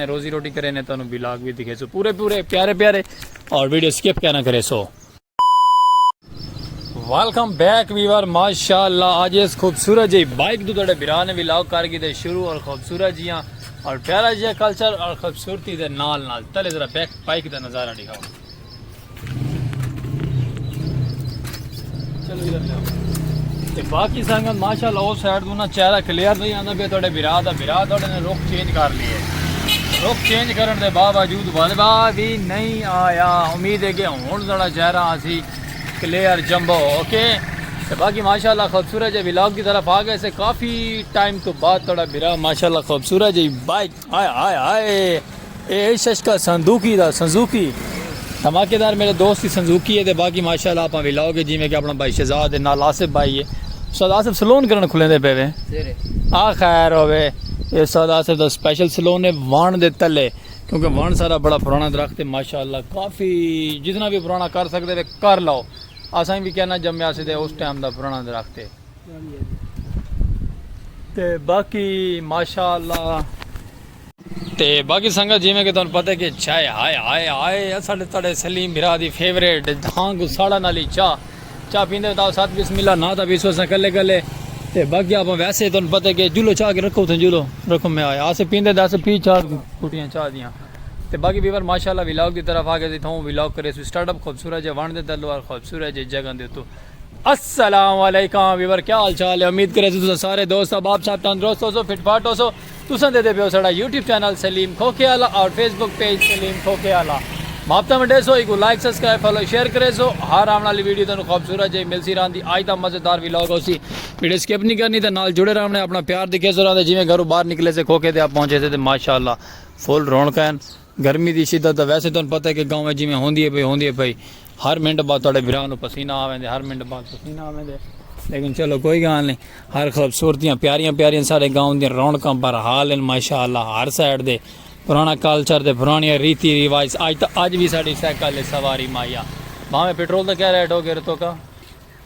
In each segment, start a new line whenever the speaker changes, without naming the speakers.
روزی روٹی کرے نے تانوں بلاگ بھی دکھے سو پورے پورے پیارے پیارے اور ویڈیو سکپ کیا نہ کرے سو ویلکم بیک ویور ماشاءاللہ آج اس خوبصورت جی بائک دو تڑے بیران بھی لاؤ کر گی دے شروع اور خوبصورت جیاں اور پیارا جیاں کلچر اور خوبصورتی دے نال نال تلے ذرا بیک بائک دے نظارہ دکھاؤں تے باقی سنگت ماشاءاللہ او سائیڈ تو نا چہرہ کلیئر نہیں آندا پیا تہاڈے بھرا دا بھرا تہاڈے نے رخ چینج کر لیے رخ چینج کرن دے باوجود ولبا بھی نہیں آیا امید ہے کہ ہن تہاڈا چہرہ اسی کلیئر جمبو اوکے تے باقی ماشاءاللہ خوبصورت جے ولاگ دی طرف آ گئے سے کافی ٹائم تو بعد تہاڈا بھرا ماشاءاللہ خوبصورت جی بائک ہائے ہائے ہائے اے عشش کا سندوقی دا سنزوقی دھماکے دار میرے دوست کی سنزوقی ہے تے باقی ماشاءاللہ اپاں وی لاؤ گے جی میں کہ اپنا بھائی شہزاد ہے نال آصف بھائی ہے استاد آصف سلون کرن کھلیں دے پے وے آ خیر ہوے اے استاد آصف دا سپیشل سلون ہے وان دے تلے کیونکہ وان سارا بڑا پرانا درخت ہے ماشاءاللہ کافی جتنا بھی پرانا کر سکتے وے کر لاؤ اساں بھی کہنا جمعہ سے دے اس ٹائم دا پرانا درخت ہے تے باقی ماشاءاللہ تے باقی سنگت جی میں کہ تانوں پتہ کہ چائے ہائے ہائے ہائے اساڈے تڑے سلیم بھرا دی فیوریٹ دھاں کو ساڑا نالی چا چا پیندے تاو ساتھ بسم اللہ نہ تا بیسو سا کلے کلے تے باقی اپ ویسے تانوں پتہ کہ جلو چا کے رکھو تھے جلو رکھو میں آیا اسے پیندے دس پی چا کوٹیاں چا دیاں تے باقی بیور ماشاءاللہ ویلاگ دی طرف آ گئے تھوں ویلاگ کرے سو سٹارٹ اپ خوبصورت جے وان دے تلوار خوبصورت جے جگہ دے تو السلام علیکم ویور کیا حال چال ہے امید کرے تساں سارے دوست احباب صاحب تندرست ہو سو فٹ فاٹ ہو سو تساں دے دے پیو سڑا یوٹیوب چینل سلیم کھوکھے والا اور فیس بک پیج سلیم کھوکھے والا مابتا منڈے سو ایک لائک سبسکرائب فالو شیئر کرے سو ہر آن والی ویڈیو تانوں خوبصورت جے مل سی رہن دی آج دا مزیدار ویلاگ ہوسی ویڈیو سکپ نہیں کرنی تے نال جڑے رہنے اپنا پیار دکھے سو رہن دے جویں گھروں باہر نکلے سے کھوکھے تے آپ پہنچے سے تے ماشاءاللہ فل رونقیں گرمی دی شدت تاں ویسے تہاݙوں پتہ ہے کہ گاؤں وچ جیویں ہوندی ہے پئی ہوندی ہے پئی ہر منٹ بعد تہاݙے بھرا نوں پسینہ آ ویندے ہر منٹ بعد پسینہ آ ویندے لیکن چلو کوئی گالھ نہیں ہر خوبصورتیاں پیاریاں پیاریاں ساݙے گاؤں دیاں رونقاں بھرحال ہن ماشاء اللہ ہر سائیڈ دے پراݨا کلچر تے پراݨیاں ریتی رواج اڄ تاں اڄ وی ساݙی سائیکل ہے سواری ماہیا بھاویں پٹرول دا کیا ریٹ ہو گے رتوکا۔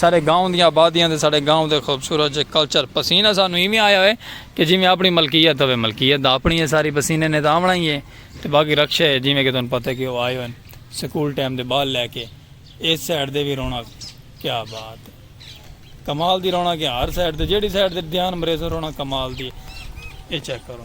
ساڈے گاؤں دیاں آبادیاں تے ساڈے گاؤں دے خوبصورت جے کلچر پسینہ سانوں ایویں آیا ہوئے کہ جیویں آپنڑی ملکیت ہوئے ملکیت دا آپنڑی ہے ساری پسینے نے تاں آونڑاں ہی ہے تے باقی رکشے جیویں کہ تہانوں پتہ ہے کہ او آئے ہوئن سکول ٹائم دے بال لے کے ایس سائیڈ دے وی رونق کیا بات ہے کمال دی رونق ہے ہر سائیڈ تے جیڑھی سائیڈ تے دھیان مریسو رونق کمال دی ہے اے چیک کرو۔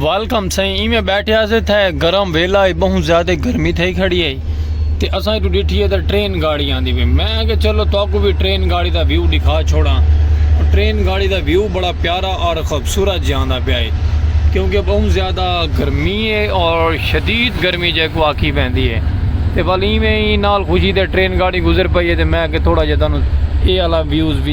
ویلکم سائیں ایویں بیٹھیا سے تھے گرم ویلا ہے بہت زیادہ گرمی تھے کھڑی ہے تے اساں تو ڈٹھی ہے تے ٹرین گاڑی آندی پئی میں کہ چلو تو کو بھی ٹرین گاڑی دا ویو دکھا چھوڑا ٹرین گاڑی دا ویو بڑا پیارا اور خوبصورت جاندا پیا ہے کیونکہ بہت زیادہ گرمی ہے اور شدید گرمی جے کو آکی پیندی ہے تے ولی ایویں ہی نال خوشی تے ٹرین گاڑی گزر پئی ہے تے میں کہ تھوڑا جے تانوں اے والا ویوز بھی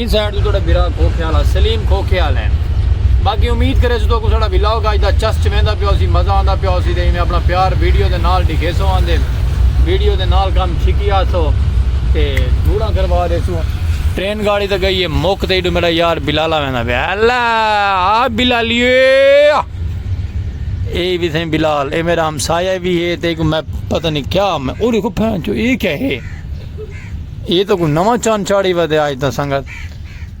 این سائیڈ تو تہاڈا بھرا کھوکھیال ہا سلیم کھوکھیال ہیں باقی امید کرے سو تو ساڈا ولاگ اج دا چس چویندا پیا ہوسی مزہ آندا پیا ہوسی تے ایویں اپنا پیار ویڈیو دے نال ڈکھیسو آندے ویڈیو دے نال کم چھکی آسو تے دھوڑاں کروا دیسو ٹرین گاڑی تے گئی ہے موک تے ایڈو میرا یار بلالا ویندا پیا الا آ بلالیو اے وی تھیں بلال اے میرا ہمسایہ وی ہے تے کو میں پتہ نہیں کیا میں او دیکھو پھین چو اے کیا ہے یہ تو کوئی نواں چان چاڑی ودے آج تا سنگت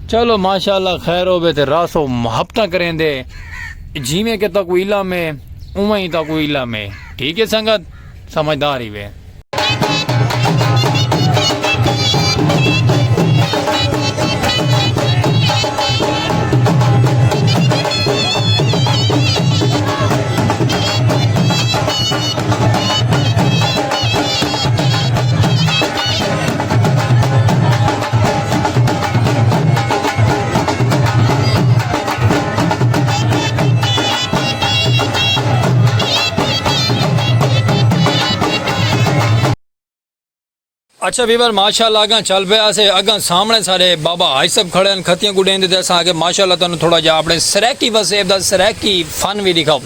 چلو ماشاءاللہ خیر ہوے تے راسو محبتاں کریں دے جیویں کہ تا کوئی علم ہے اوہ ہی تا کوئی علم ہے ٹھیک ہے سنگت سمجھدار ہی وے اچھا ویور ماشاء اللہ اگاں چل پیا سے اگاں سامنے سارے بابا آج سب کھڑے ہیں کھتیاں گڈیں دے دیسا آگے ماشاء اللہ تنہوں تھوڑا جا اپنے سریکی وسیب دا سریکی فن بھی دکھاؤں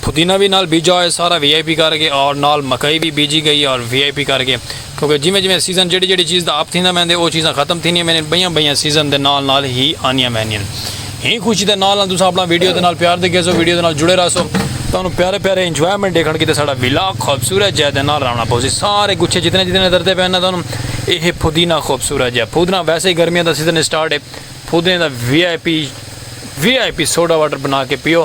پودینہ وی نال بیجا ہوئے سارا وی آئی پی کر کے اور نال مکئی وی بیجی گئی اور وی آئی پی کر کے کیونکہ جیویں جیویں سیزن جیڑی جیڑی چیز دا اپ تھیندا ویندے او چیزاں ختم تھینیاں ویندین بئیاں بئیاں سیزن دے نال نال ہی آنیاں ویندین ہی خوشی دے نال نال تساں اپنا ویڈیو دے نال پیار دے گیسو ویڈیو دے نال جڑے رہسو تانوں پیارے پیارے انجوائمنٹ دیکھن کیتے ساڈا ولاگ خوبصورت جے دے نال راونا پوسی سارے گچھے جتنے جتنے درتے پہنا تانوں اے ہے پودینہ خوبصورت جے پودینہ ویسے ہی گرمیاں دا سیزن سٹارٹ ہے پودینے دا V I P V I P soda water بنا کے پیو